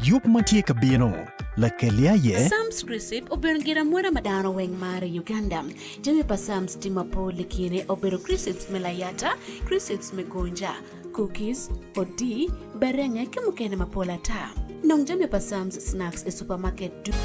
Yub ma tye ka bino, lakelle aye? Psalms Receipt obedo gin amwoda ma dano weng maro i Uganda. Jami pa Psalms tye mapol i kine obedo Cressets me layata, cressets me gonja, cookies, odii, berenge ki mukene mapol ata. Nong jami pa Sam's Snacks i supamaket ducu.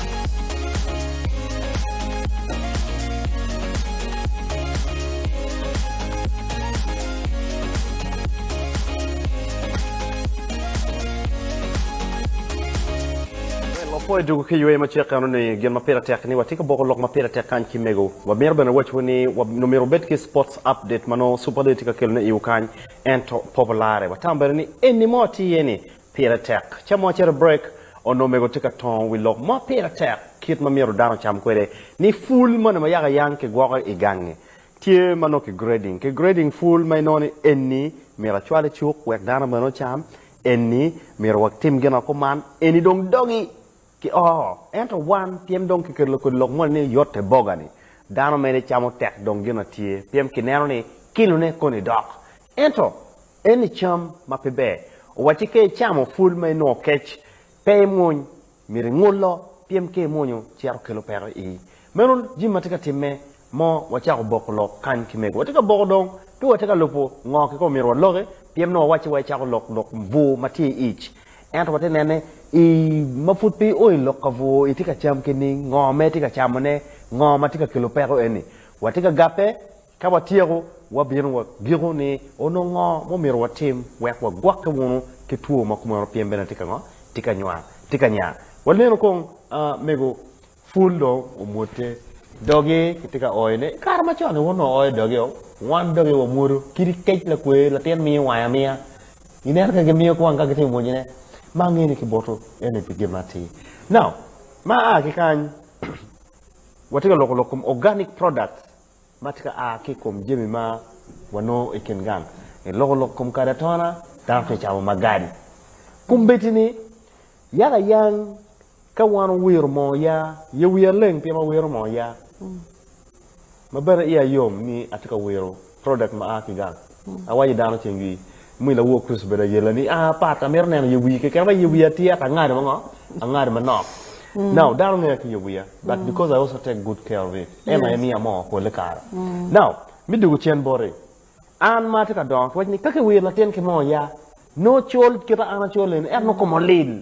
Wapwo i dwogo ki yweyo macek eno ni gin ma pire tek ni watye ka boko lok ma pire tek kany ki mego. Wamito bene wacowu ni wabino myero wubed ki Sports Update ma nongo Super Dee tye ka kelone iwu kany ento Popo Lare. Watamo bene ni eni mo tye iye ni Pire tek. Ca mo acito brek, onongo omego tye ka tongo wi lok mo pire tek kit ma myero dano ocam kwede ni pul moni ma yaka yang kigwoko i gangi. Tye ma nongo ki grading. Ki grading pul ma inongo ni enni myero acwal i cuk wek dano bene ocam, enni myero watim gin ma kuman, enni dong dogi ki oo. Ento wan pien dong kiketo kodi lok moni ni yotte boga ni dano mene camo tek dong gin na tye pien kineno ni kilone koni dok. Ento Eni cam ma pe ber. Owacci ka icamo pul ma inongo kec, pe imwony, myero ingulo, pien ka imwonyo cito kelo peko ii. Meno jami ma tye ka timme mo wacako boko lok kany ki mego. Watye ka boko dong pe watye ka lubo ngo kika omyero waloki, pien nongo wawacci wa icako lok lok bur ma tye i ic. Ento watye nene i ma pud pe io i lok ka bur itye ka cam keni, ngo ma itye ka camone, ngo ma tye ka kelo peko eni. Watye ka gabbe Ka watyeko, wabino wa giko ni onongo ngo mumito watim wek wagwokke wunu ki two ma kumeno pien bene tye ka ngo? Tye ka nywar, tye ka nya. Waleno kong mego pul dong omwote dogi ki tye ka oyo ne. I kare macon ni wonongo oyo dogi o, wan dogi wa mwodo kidi kec lakwer latin miyo wange amiya. I neno kong gi miyo kwang ka gitimo mwoji ne. Ma angeyo ni ki boto eni pi gin ma atir. Now, ma aa ki kany watye ka loko lok kom organic products. ma tye ka a ki i kom jami ma wanongo i kin gang. I loko lok kom kadi atona, dano tye ka camo magadi. Kombeddi-ni, yaka yang ka wan owiro moo ya, ye wiya leng pien wawiro moo ya, ma bene iya yom ni atye ka wiro product ma a ki gang. Awaco i dano ceng-gi, mi lawor Kricito bedo ayella ni, A, pat, amito neno ye wii keken, ba ye wii atyeka, angadi ma ngo? Angadi manok. Now, dano ngeya ki ye wiya, but because I also take good care of it, en aye miyo amoo pole kare. Now, mi dugu cen boti, an ma atye ka dongo ki waco ni, ka kiwir latin ki moo ya, nongo col kita an acol eni, ento nongo koma olil.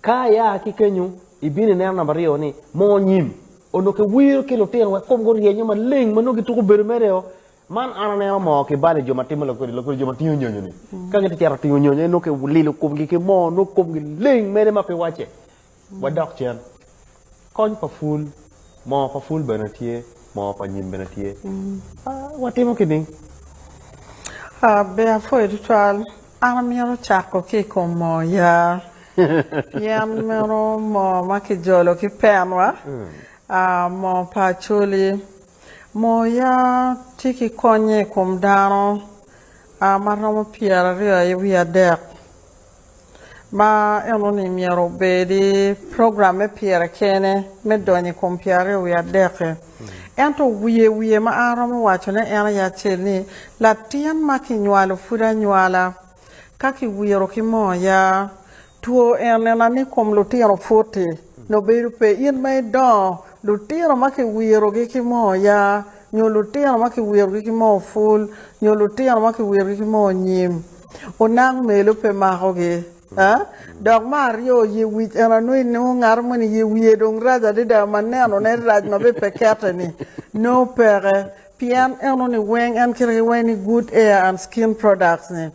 Ka ia ki kenyo, ibino ineno namba aryo ni Mo Nyim. Onongo kiwiro ki lutino wek komgi oryenyo maleng ma nongo gituko bedo mere-o. Man an aneno moo ki bal i jo ma timo lakodi lakodi, jo ma tingo nyonyo-ni. Ka gitye cito ka tingo nyonyo aye nongo kililo komgi ki moo, nongo komgi leng mere ma pe wacce. Wadok cen. Kony pa pul, moo pa pul bene tye, moo pa nyim bene tye. Watimo ki ning? Ber apwoyo tutwal. An amito cako ki i kom moo yaa. Yen meno moo ma kijolo ki penwa, moo pa acholi. Moo yaa tye ki konye i kom dano ma romo pyeraryo aye wiye adek. ma eno ni myero obedi program me pire kene me donyo i kom pyer aryo wiye adek-ki. Ento wiye wiye ma an aromo wacone en aye acel ni, latin ma kinywalo pud anywala, ka kiwiro ki moo ya, two enena ni kom lutino pwoti nongo bedo pe, in ma idongo lutino ma kiwirogi ki moo ya, nyo lutino ma kiwirogi ki moo pul, nyo lutino ma kiwirogi ki moo nyim, Onang melu pe makogi. Dok me aryo, ye wic. En anongo inongo ngato moni ye wiye dong rac adada ma nenone rac ma bene pe kette-ni nongo peke. Pien eno ni weng en kite ki weng ni Good Air and Skin Products-ni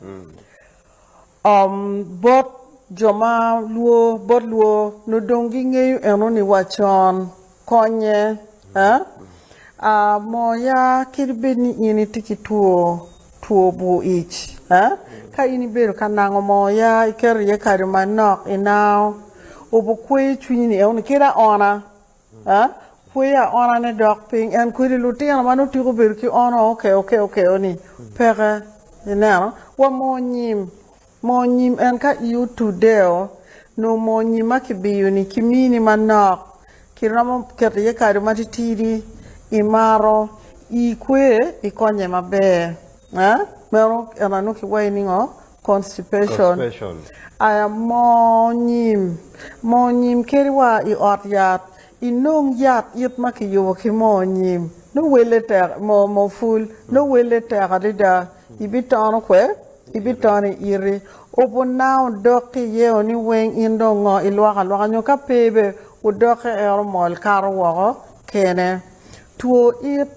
bot jo ma lwor bot lwor nongo dong gingeyo eno ni wa con. Konye. A A moya, kadi bed ni in itye ki two two bur ic, a ka in ibedo ka nango moya, iketo iye kado manok, inao obo kweyo cwinyi ni euni kit aona, a kweyo aona ne dok piny en kwedi lutino ma nongo tiko bedo ki ono oke oke oke oni peke ineno wa mo nyim Moo nyim en ka i otudeo nongo moo nyim ma kibiyoni kimini manok kiromo keto iye kado matitidi imaro i kwe ikonye maber meno eno nongo kiwayo ni ngo constipation aya moo nyim moo nyim keri wa i ot yat inong yat it ma kiyubo ki moo nyim nongo wele tek moo pul nongo wele tek adada ibitono kwe Ibitono i iti, obunao dok ki iyeo ni weng in dong ngo ilwoko alwoka nyo ka pe be odoke en omol kato woko kene. Two it,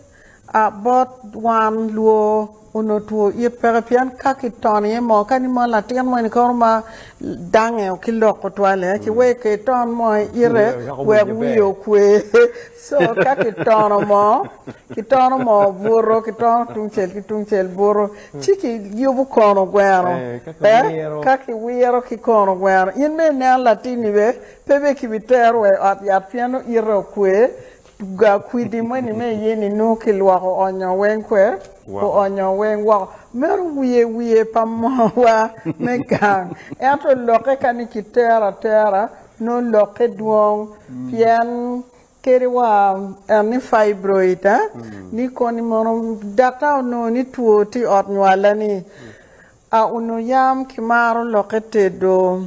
A bot wan luo onongo two it peke pien ka ki tono iye moo kadi mono latin mo ni koro ma dange ki lok tutwale ki weko iton moo i ite wek wiye okwe so ka ki tono moo ki tono moo buto ki tono tungcel ki tungcel buto. Ci kiyubo kono gweno pe ka kiwiro ki kono gweno. In bene inen latinni be pe bene kibitero wa i ot yat pien nongo ite okwe ga kwidi moni me iyeni nongo kilwoko onyo weng kwe oonyo weng woko. Meno wiye wiye pa mowa me gang ento lokke ka ni kitero atera nongo lokke dwong pien Keri wa en ni fibroid eh ni koni mono daktar onongo ni two tye iot nywala ni a onongo yam ki maro loke tedo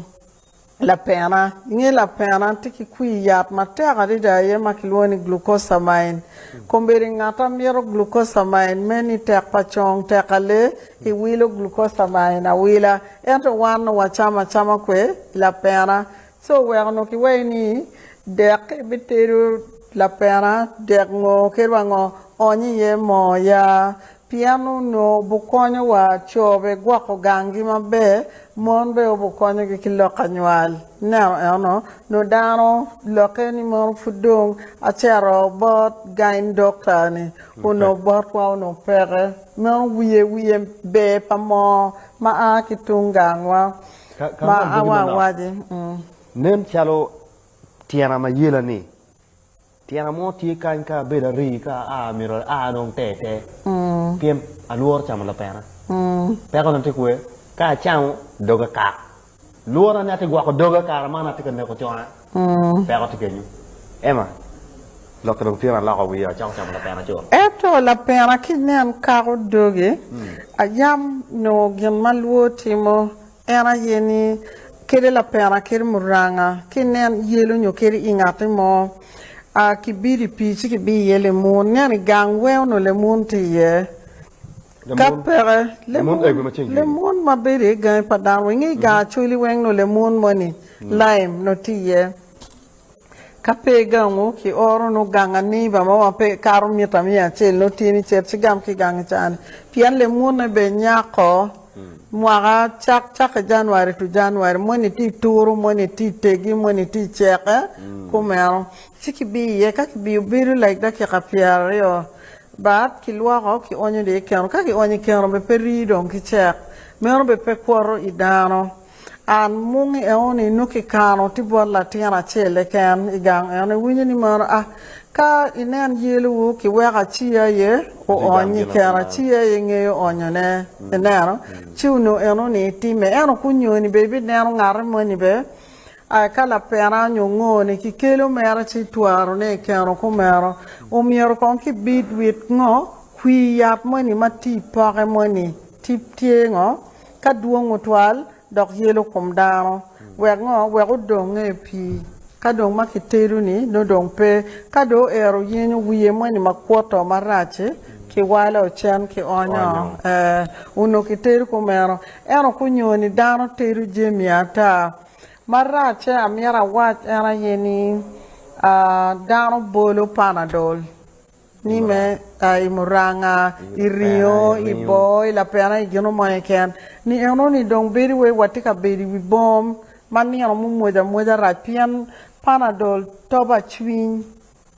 lapena inge lapena tye ki kwir yat matek adada aye ma ki lwongo ni glucosamine kombeddi ngat a mito glucosamine me ni tek pa cong tek ale i wilo glucosamine awila ento wan onongo wa camo acama kwer lapena Ci oweko onongo kiwayi ni, Dek ibitedo lapena, dek ngo kit wa ngo oony iye moo ya, pien onongo obukonyo wa co bigwoko ganggi maber, mon bene obukonyogi ki lok anywal. Ineno eno, nongo dano lokke ni mono pud dong acito bot gyne doctor ni, onongo botwa onongo peke, meno wiye wiye ber pa moo ma a ki tung gangwa. ma awawaci. Nen calo tyena ma yela-ni, tyena mo tye kany ka abedo arii ka aa myero aa dong te te pien alworo camo lapena. Pekona tye kwee, ka acamo doga kak, lwora ni ati gwoko doga kara man ati ka neko cona. Ento lapena ki nen kako doge, ayam nongo gin ma lwo timo, en aye ni, kede lapena kede muranga ki nen yelo nyo kede i ngati mo, kibido i pii ci kibiyo iye lemun, nen i gang weo nongo lemun tye iye. Ka peke, lemon ma bedo i gangi pa dano weng, i gang Acholi weng nongo lemon moni, lime, nongo tye iye. Ka pe i gangu, kioro nongo gang aniba mo ma pe kato mita miya acel nongo tye ni cet ci gam ki i gangi cani. Pien lemonne bene nyako mwaka cak cakke January to January, moni tye i turu, moni tye i tegi, moni tye i ceke, kumeno. Ci kibiyo iye, ka kibiyo bedo lek dakika pyeraryo bat, kilwoko, kionyo dong i keno. Ka kionyo i keno, be pe rii dong ki cek. Meno be pe kwoto i dano. An mungi enoni nongo kikano tye bot latin acel keken i gang enoni. Iwinyo ni mano? A Ka inen yelowu, kiweko acii aye oony i keno, acii aye ngeyo onyone. Ineno? Ci onongo enoni time. Ento konyoni be ibineno ngati moni be. A Ka lapena onyo ngo ni ki kelo mere ci twaro ne i keno kumeno, omyero kong ki bid wit ngo kwi yat moni ma tye i poke moni, tip tye ngo, ka dwong otwal dok yelo kom dano, wek ngo, wek odong nge pii. Ka dong ma ki tedo ni nongo dong pe, ka dong oero yenyo wiye moni ma kwoto ma rac-ci, ki walo ocen ki onyo, ee, onongo ki tedo kumeno. Ento kunyo ni dano tedo jemi ata. Maracce amyero awac en aye ni dano bolo panadol ni me i muranga, i ringo, i boo, i lapena, i gino mo keken ni eno ni dong bedo wai watye ka bedo i wi bom ma nino mumwoco amwoca rac pien panadol toba cwiny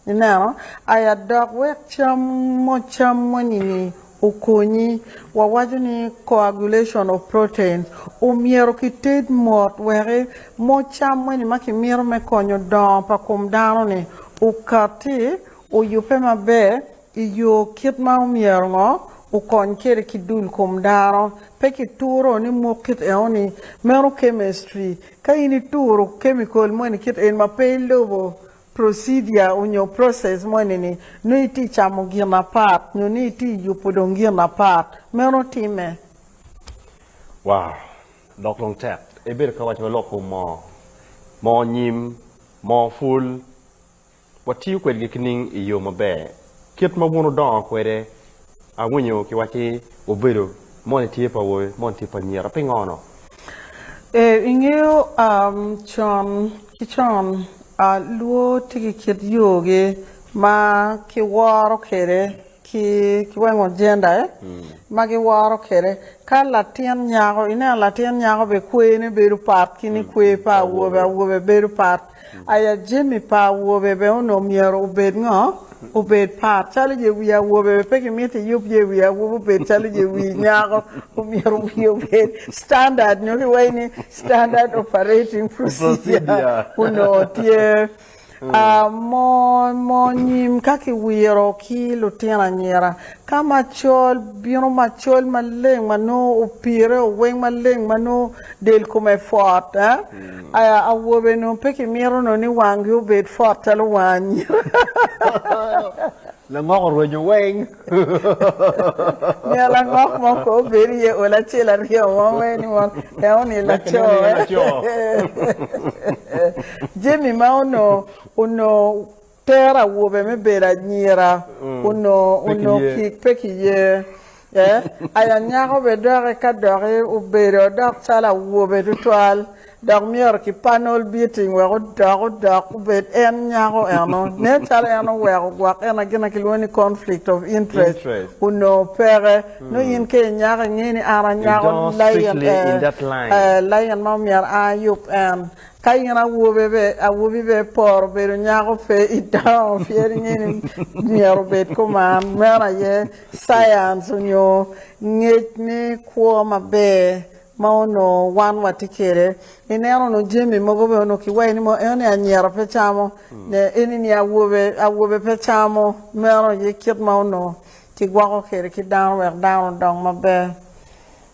Ineno? Aya dok wek cam mucam moni-ni okonyi. Wawaco ni coagulation of proteins. Omyero kited mot weki moo cam moni ma kimito me konyo dongo pa kom dano-ni okati, oyubbe maber i yo kit ma omyero ngo okony kwede ki dul kom dano. Pe kituro ni mok kit enoni. Meno chemistry. Ka in ituro chemical moni kit en ma pe ilubo, Procedure onyo process mo ni ni nongo iti camo gin apat nyo ni iti yubo dong gin apat. Meno time. Wow! Lok dong tek. Ebedo ka waco lok kom moo, moo nyim, moo pul. Watiyo kwedgi kining i yoo maber Kit ma wun wudongo kwede, awinyo kiwacci ni wubedo moni tye pa awobe, moni tye pa anyira. Pingo-nu? Ee, ingeyo, con ki con, luo tye ki kit yogi ma kiworo kwede ki kiwengo gender eh? ma giworo kwede. Ka latin nyako, ineno latin nyako bene kwene bedo pat ki ni kwe pa awobe, awobe bedo pat. Aya jami pa awobe bene onongo myero obed ngo? Obed par calo ye wi awobe bene pe kimito iyub ye wi awobi obed calo ye wi nyako. Myero wiye obed standard nyo kiwaci ni standard operating procedure onongo tye. Mo nyim ka kiwiro ki lutino anyira. Ka macol bino macol maleng ma nongo opire o weng maleng ma nongo del kome fot eh aya awobe nongo pe ki mito nongo ni wangi obed fot calo wang anyira. Langok orwenyo weng. Miyo langok mo ko obed iye ol acel aryo mo wek ni wang en oni laco eh. Jami ma onongo onongo Tero awobe me bedo anyira onongo kik pe kiye. Aye anyako bene dok eka dok obedo dok calo awobe tutwal dok myero kipan Old Beating wek odok odok obed en nyako eno. Nen calo en oweko gwok en na gin na kilwongo ni conflict of interest onongo peke. Nongo in ka inyako ingeyo ni an anyako lain ma myero an ayub en. Ka in awobi be iporo bedo nyako pe idongo pien inge ni myero obed kuman. Meno aye science onyo ngec me kwo maber ma onongo wan watye kwede. Ineno onongo jami mogo bene onongo kiwayi ni eno ni anyira pe camo ne eni ni awobe awobe pe camo meno aye kit ma onongo kigwoko kwede ki dano wek dano odong maber.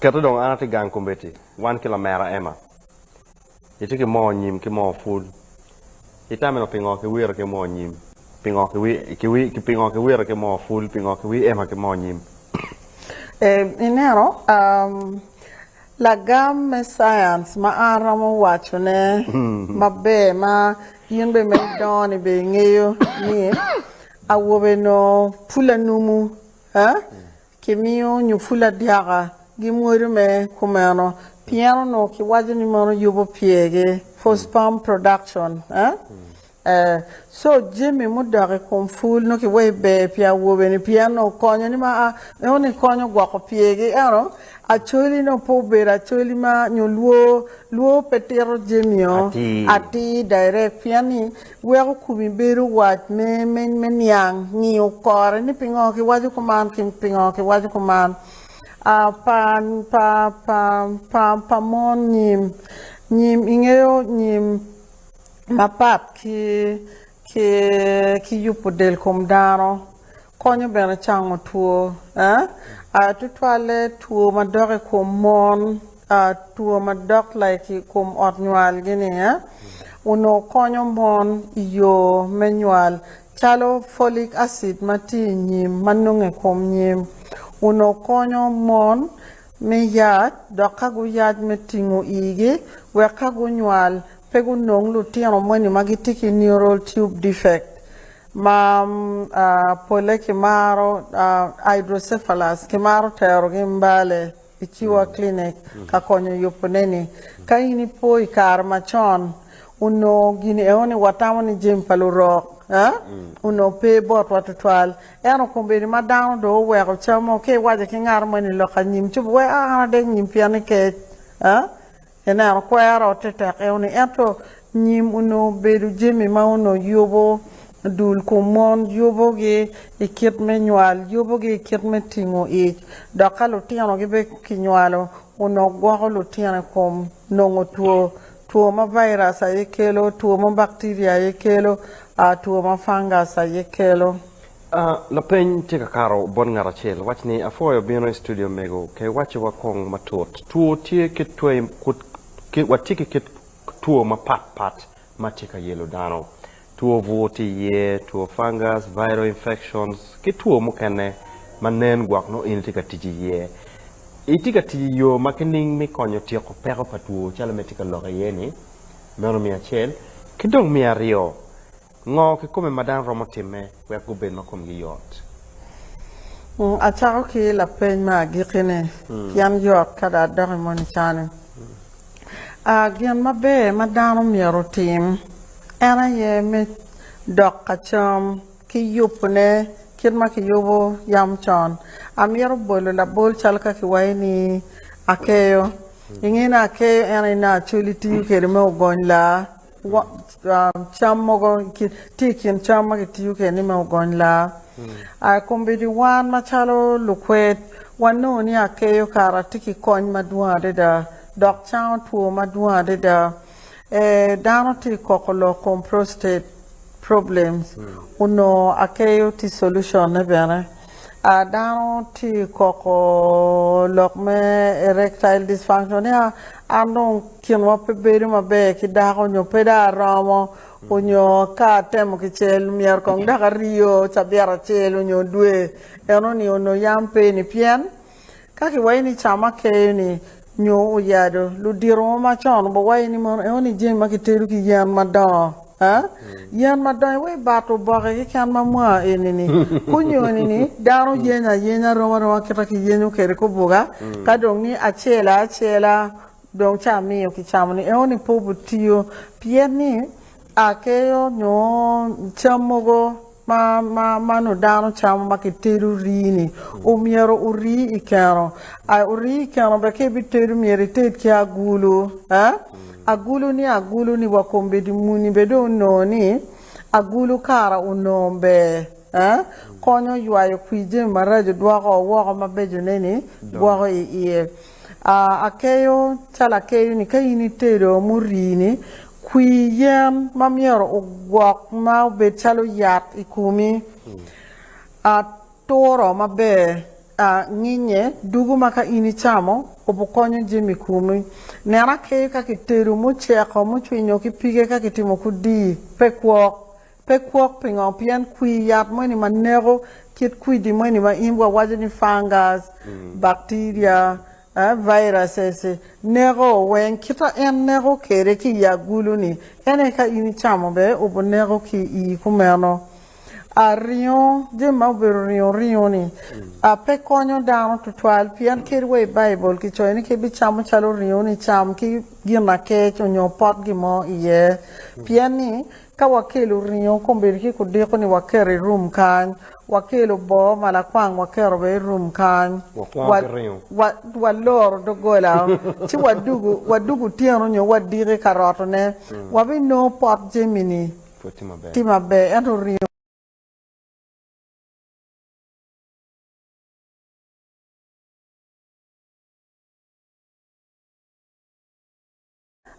Kete dong an atye gang kombeddi wan ki lamera Emma Itye ki moo nyim ki moo pul. Itameno pingo kiwiro ki moo nyim? Pingo pingo kiwiro ki moo pul? Pingo kiwieema ki moo nyim? Ineno, lagam me science ma an romo waco ne maber ma in bene ma idongo ni bene ingeyo ni awobe onongo pul anumu, Kimiyo nyo pul adyaka gi mwodo me kumeno pien onongo kiwaco ni meno yubo pyergi, for sperm production, eh? So jami mudok i kom pul nongo kiweyo ber pi awobe-ni pien onongo konyo ni ma a, nongo ni konyo gwoko pyergi ento acoli nongo pe obedo acoli ma nyo lwor, lwor pe tito jami-o atir direct pien ni. Weko kumi bedo wac me me niang, ngiyo kore ni pingo ki waco kuman ki pingo ki waco kuman. Pa pa pa pa pa mon nyim, nyim ingeyo nyim mapat ki ki ki yubu del kom dano. Konyo bene cango two, tutwalle two madok i kom mon, two madok like i kom ot nywalgi ni, onongo konyo mon i yo me nywal calo folic acid ma tye i nyim ma nongo i kom nyim, onongo konyo mon me yac dok ka guyac me tingo igi wek ka gunywal pe gunong lutino moni ma gitye ki neural tube defect. Ma polle kimaro hydrocephalus, kimaro terogi Mbale i Ciwa Clinic ka konyo yubone-ni. Ka in ipo i kare macon, onongo gin eno ni watamo ni jami pa lurok onongo pe botwa tutwal. Ento kombeddi ma dano dong oweko camo, ka iwaco ki ngat mo ni lok anyim ci obwoi, aa an adek nyim pien ni kec. Ineno, kwero te tek eoni, ento nyim onongo obedo jami ma onongo yubo dul kom mon, yubogi i kit me nywal, yubogi i kit me tingo ic. Dok ka lutino gibe kinywalo, onongo gwoko lutino i kom nongo two, two ma virus aye kelo, two ma bacteria aye kelo, two ma fungus aye kelo. Lapeny tye ka kato bot ngat acel. Wac ni, Apwoyo bino i studio mego. Ke wacce wa kong matut. Two tye kit twe kut ki watye ki kit two mapat pat ma tye ka yelo dano. Two bur tye iye, two fungus, viral infections ki two mukene ma nen gwok nongo in itye ka tic iye. Itye ka tic iyo ma kining mi konyo tyeko peko pa two calo me tye ka lokke iye ni? Meno me acel. Ki dong me aryo. Ngo kikome ma dano romo timme wek gubed ma komgi yot? Acako ki lapeny me agikki-ni, pien yot ka dong adok i moni cani. Gin maber ma dano myero otim en aye me dok ka cam ki yubone kit ma kiyubo yam con. Amyero bolo labol calo ka kiwaco ni akeyo. Inge ni akeyo en aye nongo acoli tiyo kwede me ogony laa. cam mogo tye i kin cam ma kitiyo kwedeni me ogony laa kombeddi wan macalo lukwed wanongo ni akeyo kara tye ki kony madwong adada dok cango two madwong adada dano tye ka koko lok kom prostate problems onongo akeyo tye solution ne bene. A Dano tye koko lok me erectile dysfunction ni a an dong kinwa pe bedo maber ki dako nyo pe dong aromo onyo ka atemo kicel myero kong dok aryo cabit acel onyo dwe eno ni onongo yam pe ni pien Ka kiwaci ni cama keyo-ni nyo oyado, luditowa macon guwaco ni mono eno ni jami ma kitedo ki yen madongo. Yen madongo iwaco ni bat oboke keken ma mwa eni-ni. Kunyoni ni dano yenyo ayenya rom aroma kita ki yenyo kwede kubuka ka dong ni acel aye acela dong ca miyo kicamo-ni eno ni pe obitiyo pien ni akeyo nyo cam mogo ma ma ma nu dano camo ma ki tedo rii ni u myero u rii i keno a u rii i keno be ki bi tedo myero i ted ki agulu eh agulu ni agulu ni wa kom bedi muni be dong u nongo ni agulu kara u nongo ber eh konyo ywayo kwir jami maraco dwoko woko ma beco ne ni gwoko i iye Akeyo calo akeyo ni ka in itedo murii ni kwir yen ma myero ogwok ma obed calo yat i komi, aturo maber, nginye dugo ma ka in icamo obi konyo jami komi. Nen akeyo ka kitedo muceko mucwinyo ki pige ka kitimo kudi pe kwok Pe kwok pingo pien kwir yat moni ma neko kit kwidi moni ma in wawaco ni fungus, bacteria, viruses neko weng kita en neko kwede ki i agulu ni en aye ka in icamo bene obi neko ki i i kumeno. A ringo jami ma obedo ringo ringo ni a pe konyo dano tutwal pien kadi wa i baibul ki coyo ni ka ibi camo calo ringo ni cam ki gin akec onyo pot gin mo iye pien ni Ka wakelo ringo kombeddi ki kudiko ni waketo i rum kany, wakelo boo ma lakwang waketo bene i rum kany. Waloro doggola ci wadug otyeno nyo wadiko i karotone, wabinongo pot jami-ni tye maber ento ringo pe.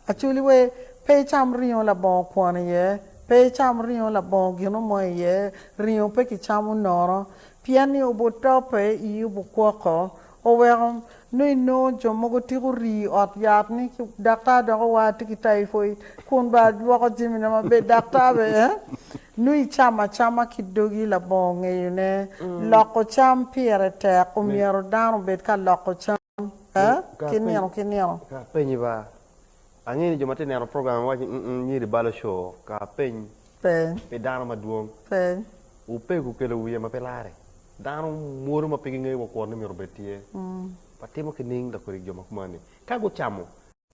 Acholi we, pe icam ringo labongo kwon iye, pe icam ringo labongo gino mo iye, ringo pe kicamo nono, pien ni obuto pe i obukwoko. Oweko nongo inongo jo mogo tiko rii i ot yat ni daktar dok owa atye ki typhoid kun bene alwoko jamina maber, daktar bene eh, nongo icamo acama ki dogi labongo ngeyone. Loko cam pire tek, omyero dano obed ka loko cam. Ka ki nino ki nino. Ka apenyi ba. Angeyo ni jo ma tye neno program wawaco ni mm nyiri balo show. Ka apeny. Peny. Pi dano madwong. Peny. Opego okelo wiye ma pe lare. Dano mwodo ma pe gingeyo wa kwon ni myero obed tye. Watimo ki ning lakorik jo ma kumani. Ka gucamo.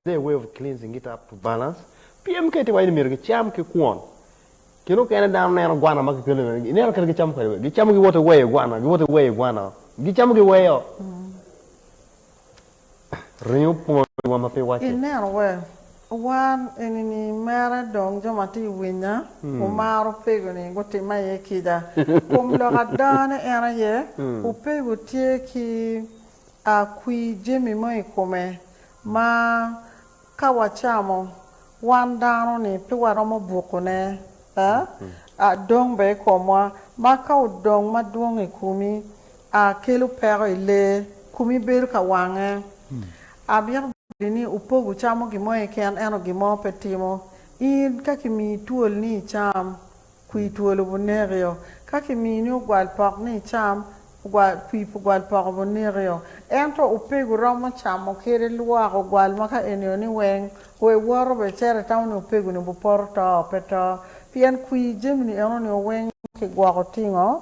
Their way of cleansing it up to balance. Pyem kiti wa ini myero gicam ki kwon. Kine okene dano neno gwana ma kikelo i mene. Ineno kene gicamo kwede. Gicamo gi wote weyo gwana. Gi wote weyo gwana. Gicamo gi weyo. Ringo pwony wa ma pi wace. Ineno we. Wan ini ni mere dong jo ma ti winya wumaro pego ni gutima iye kica. Kom lok adanga ne en aye, wupego tye ki a kwi jemi mo i kome. ma ka wacamo, wan dano-ni pe waromo bukune, aa, dong bene i komwa, ma ka odong madwong i komi, aa, kelo peko i lee, komi bedo ka wange. Amito boti ni wupog wucamo gin mo keken, ento gin mo pe timo. In ka kimiyi twol ni icam, Kwir two lobo nekio. Ka kimini ogwal pok ni icam, kwir pa ogwal poko bo nekio. Ento opego iromo camo kede lwak ogwal ma ka enio ni weng, we iwoto be icero itamo ni opegoni obipoto to, pe to. Pien kwir jami-ni eno nio weng kigwoko tingo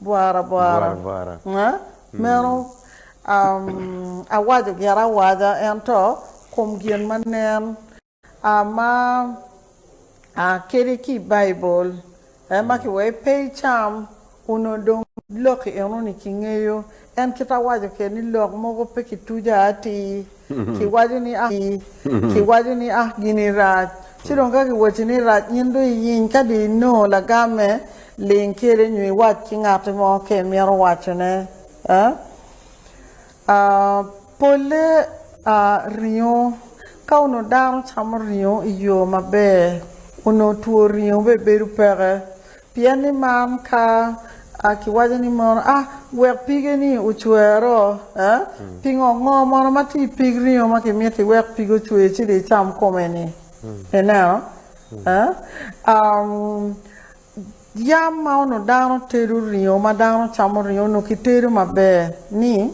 bwara bwara bwara bwara meno awaco gin awaca ento kom gin ma nen ma kadi ki i Baibul ema kiwaco pe icam onongo dong loki enoni kingeyo En kit awaco kede ni lok mogo pe ki tuja atii ki waco ni ah ki waco ni ah gini rac ci dong ka ki waci ni rac in dong iyiny ka dong inongo lagamme ling kede nyo iwac ki ngati mo ka imito waco ne ah ah pole ah ringo ka onongo dano camo ringo iyo maber onongo two ringo bene bedo peke Pien ni man ka a kiwaco ni mono a wek pige-ni ocwer-ro, pingo ngo mono ma tye i pig ringo ma kimito iwek pige ocwer ci dong icam kome-ni? Ineno? Yam ma onongo dano tedo ringo, ma dano camo ringo, onongo kitedo maber ni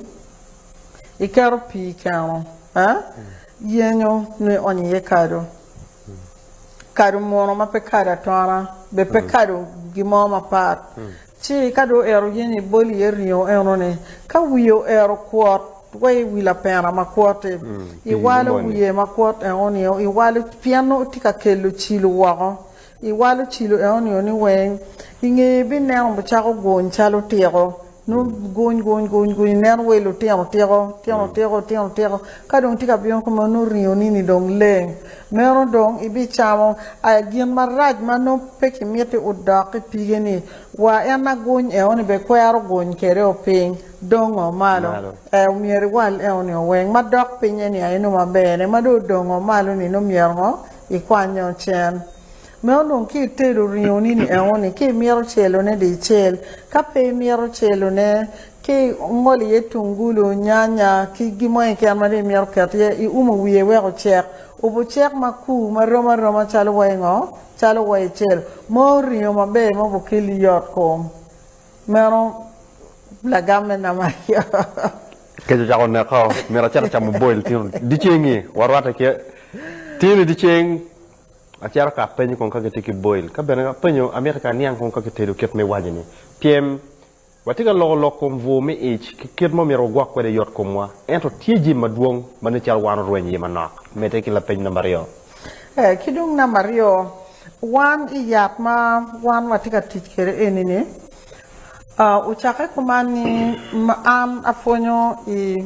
iketo pii i keno, yenyo nongo ionyo iye kado. kado muno ma pe kado atona be pe kado gin mo mapat ci ka dong oero yen ni ibol iye ringo eno ni ka wiye oero kwot wa i wi lapena ma kwot ti i walo wiye ma kwot eno ni i walo pien nongo ti ka kelo cilo woko i walo cilo eno ni weng i ngeye bi neno cako guny calo tiko. Nongo guny guny guny guny ineno wai lutino tiko, tino tiko, tino tiko. Ka dong itye ka bino kunu ma nongo ringo ni ni dong leng. Meno dong ibicamo aya gin marac ma nongo pe kimiti odok i pige ni wa en na guny eo ni be kwero guny kede o piny dong o malo. Ee omyero iwal eo ni o weng ma dok pinye ni aye nongo maber ne ma dong odong o malo ni nongo myero ngo ikwany o cen. Me onongo ki itedo ringo ni ni eno ni ki mito celo ne di icel ka pe imito celo ne ki ingolo iye tungulu nyanya ki gin mo keken ma dong imito keto iye i umo wiye wek ocek obu cek ma kur ma rom aroma calo wa ingo calo wa icelo mo ringo ma ber mo bu keli yot kom meno lagam me nama yo. Kec ocako neka o myero acit acamo boil tino di ceng ni wa rwate ki tino di ceng. Acito ka apenyo kong ka gitye ki boil. Ka bene apenyo, amito ka aniang kong ka kitedo kit ma iwaco-ni. Pyem, Watye ka loko lok kom bwur me ic ki kit ma omyero wagwok kwede yot komwa. Ento tye jami madwong ma nen calo wan orweny iye manok. Medde ki lapeny namba aryo. Ee, ki dong namba aryo, wan i yat ma wan watye ka tic kwede eni-ni, Ocakke kuman ni an apwonyo i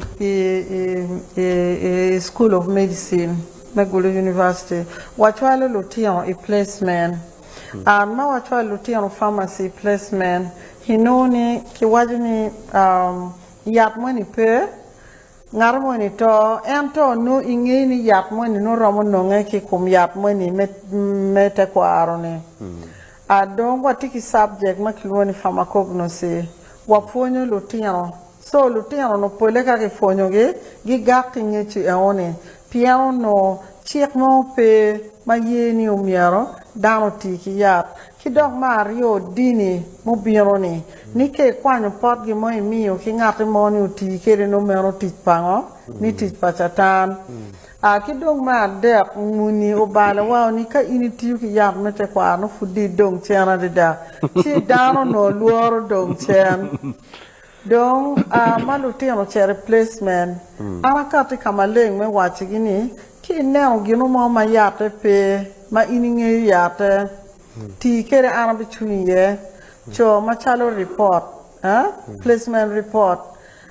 School of Medicine me Gulu University. Wacwalo lutino i placement. An ma wacwalo lutino Pharmacy i placement, inongo ni kiwaco ni yat moni pe, ngato moni to, ento nongo ingeyo ni yat moni nongo romo nonge ki i kom yat moni me tekwaro-ni. A Dong watye ki cabjek ma kilwongo ni Pharmacognosy. Wapwonyo lutino. So, lutino-nu pole ka kipwonyogi, gigak ki ngecu eo-ni, pien onongo cik mo pe ma ye ni omyero dano oti ki yat. Ki dok me aryo, dini mubino-ni. Ni ka ikwanyo pot gin mo imiyo ki ngatti mo ni oti kede nongo meno tic pango? Ni tic pa Catan. A Ki dong me adek, muni obalo wa ni ka in itiyo ki yat me tekwaro nongo pud dong idong cen adada, ci dano onongo lworo dong cen. Dong a ma lutino ce replacement, an akati ka maleng me wacigi ni ka ineno gino mo ma yatte pe, ma in ingeyo yatte, ti kede an abicung iye. Co macalo ripot, eh, placement ripot,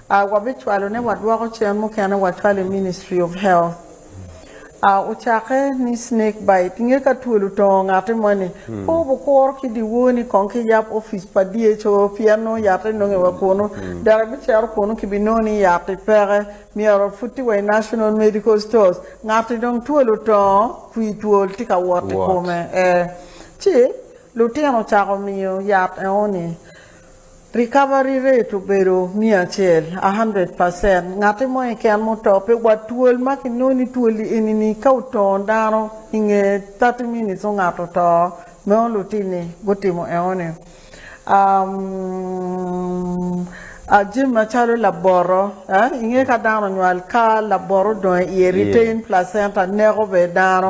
A Wabicwalo ne wadwoko cen mukene wacwal i Ministry of Health. A Ocakke ni snake bite nge ka twolo tongo ngati moni. Pe wubukuro ki dyewor ni kong ki yab ofice pa DHO pien nongo yatte nonge wa kunu. Dok ibicito kunu kibinongo ni yatti peke, myero waputi wa i National Medical Stores. Ngati dong twolo tongo, kwir twol tye ka wot i kome. Ee. Ci lutino ocako miyo yat engo ni. Recovery rate obedo miya acel, a hundred percent, ngati mo keken ma oto pe wa twol ma ki nongo ni twoli eni ni ka otongo dano inge thirty minutes ongato oto meno lutini gutimo eno ni a jami macalo laboto eh inge ka dano onywal ka laboto odongo iye retain placenta neko bene dano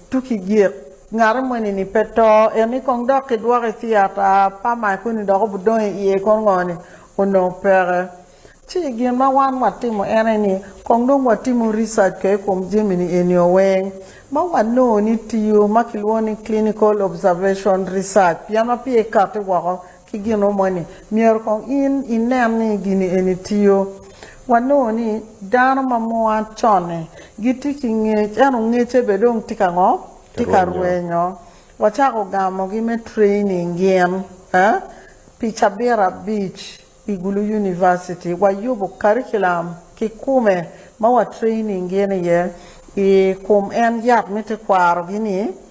Tuk i gik, ngati moni-ni pe to, eni kong dok kidwoko i thiata pa Maikuni dok obidong i iye kono ngo-ni? Onongo peke. Ci gin ma wan watimo ene ni, kong dong watimo research ko i kom jami-ni enio weng, ma wanongo ni tiyo, ma kilwongo ni clinical observation research, pien wapye kati woko ki gin mo moni, myero kong in inen ni gini eni tiyo. Wanongo ni dano ma mua con-ni gitye ki ngec ento ngecce bene dong tye ka ngo? Tye ka rwenyo. Wacako gamogi me training gin pi cabit abic i Gulu University. Wayubo curriculum kikume ma wa training gin iye i kom en yat me tekwaro-gi-ni.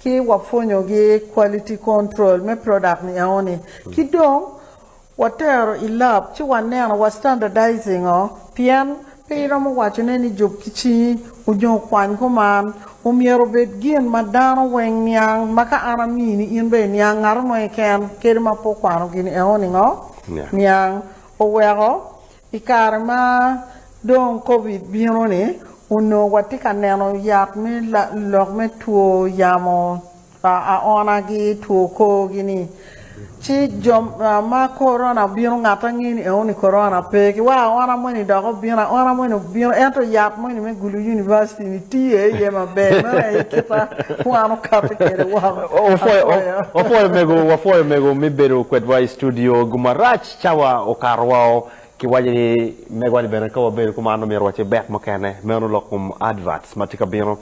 ki wapwonyo gi quality control me product ni eoni ki dong watero i lab ci waneno wa standardizing o pien pe iromo waco ne ni jub ki cingi onyo kwany kuman omyero obed gin ma dano weng niang ma ka an amini in bene iniang ngato mo keken kadi ma pe okwano gini eoni ngo niang oweko I kare ma dong Covid bino-ni, onongo watye ka neno yat me lok me two yamo aona-gi, two kor-gi-ni. Ci jo ma korona obino ngatte angeni eo ni korona pe. Ki weko aona moni dok obino, aona moni obino ento yat moni me gulu univaciti-ni tiye iye maber. Meno aye kite wan wakati kwede woko. Apwoyo. Wapwoyo mego, wapwoyo mego me bedo kwedwa i studio. Gumarac Cawa okato woko, kiwaco ni mego ni bene ka wabedo ki man omyero wace bet mukene, meno lok kom adverts matye ka bino.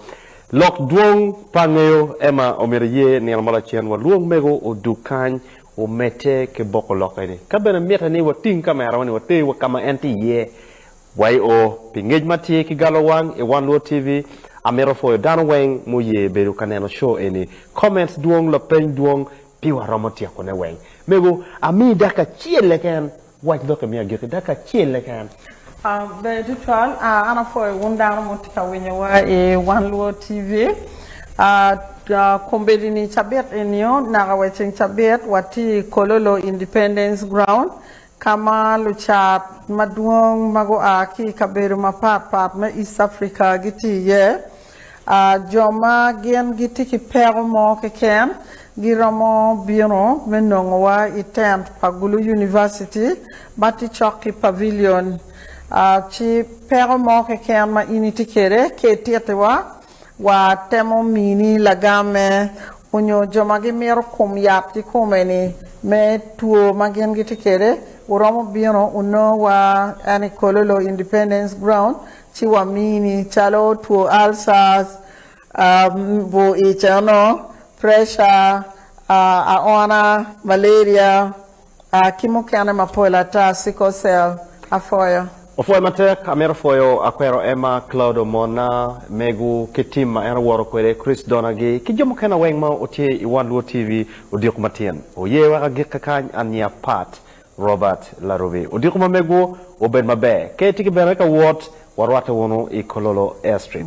Lok dwong pa angeyo Emma omyero iye nino ma lacen walwong mego odug kany omedde ki boko lok eni. Ka bene mitte ni wating camera wa ni water wa kama en tye iye. YO, pi ngec ma tye ki galo wang i one luo TV, amito pwoyo dano weng muye bedo ka neno show eni. Comments dwong, lapeny dwong, Pi waromo tyekone weng, mego, amiyi dakika acel keken. Wac lok imiyo agikki dakika acel keken. Bedo tutwal, an apwoyo wun dano ma wutye ka winyowa i Wan Luo TV. Kombeddi-ni cabit eni-o, naka wa i ceng cabit, watye i Kololo Independence Ground, ka ma lucat madwong ma gua ki i kabedo mapat pat me East Africa gitye iye. Jo ma gin gitye ki peko mo keken giromo bino me nongowa i tent pa Gulu University ma tye cok ki Pavilion. Ci peko mo keken ma in itye kwede, ka itittiwa, watemo mini lagamme onyo jo ma gimito kom yat kikome ni me two ma gin gitye kwede wuromo bino wunongo wa en i kololo independence ground ci wamini calo two ulcers, bur ic eno, pressure, aona, malaria. A ki mukene mapol ata, sickle cell, apwoyo. Opwoyo matek, amito pwoyo akwero Emma, Claude omona, megu ki team ma en owoto kwede, Chris Donna gi ki jo mukene weng ma otye i One Luo TV, odiko matin oye wek agikke kany ania Pat, Robert, Larubi, odiko ma megu obed maber, ka itye ki bene ka wot warwate wunu i Kololo Airstrip.